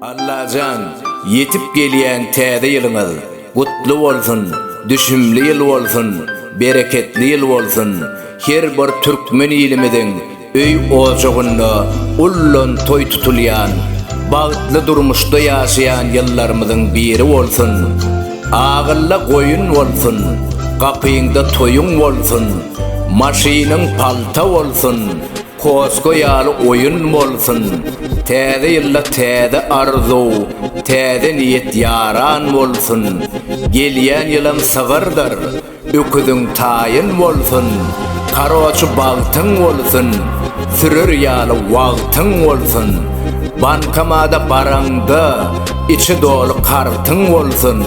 Allajan ýetip gelýän täze ýylyňyz gutly bolsun düşümli ýyl bolsun bereketli ýyl bolsun her bir türkmen ilimiziň öý ojagynda ullan toý tutulýan bagtly durmuşda ýaşaýan ýyllarymyzyň biri bolsun agylla goýun bolsun gapyňda toýuň bolsun maşynyň palta bolsun Kosko ýaly oýun bolsun Täze ýylda täze arzuw Täze niýet ýaran bolsun Gelýän ýylam sygyrdyr Öküziň taýyn bolsun Karoçi bagtyň bolsun Sürer ýaly wagtyň bolsun Bankamada baraňda Içi doly kartyň bolsun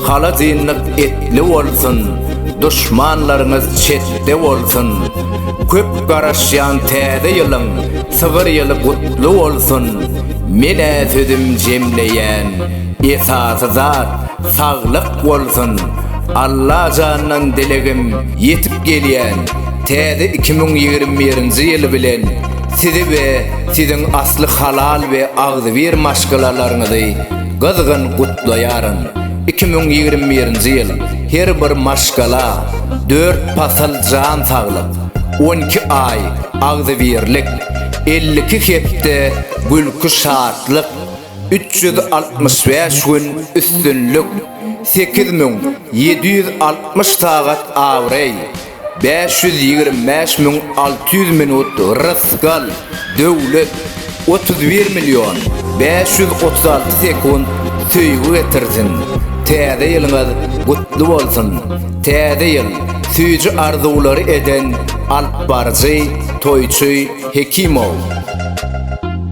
Halajynlyk etli bolsun Duşmanlaryňyz çetde bolsun Köp garaşýan täze ýylyň sygyr ýyly gutly bolsun menä sözüm jemleýän esasy zat saglyk bolsun Allajandan dilegim ýetip gelýän täze iki müň ýigrimi birinji ýyl bilen sizi we siziň asly halal we agzybir maşgalalaryňyzy gyzgyn gutlaýaryn. Iki müň ýigrimi birinji ýyl her bir maşgala dört pasal jan saglyk, on iki aý agzybirlik, elli iki hepde gülki-şatlyk, üç ýüz altmyş bäş gün üstünlik, sekiz müň ýedi ýüz altmyş sagat abraý, Bäş ýüz ýigrimi bäş müň alty ýüz minut rysgal, döwlet, Otuz bir million bäş ýüz otuz alty sekunt söýgi getirsin! Täze ýylyňyz gutly bolsun! Täze ýyl süýji arzuwlary eden alypbaryjy, toýçy Hekimow.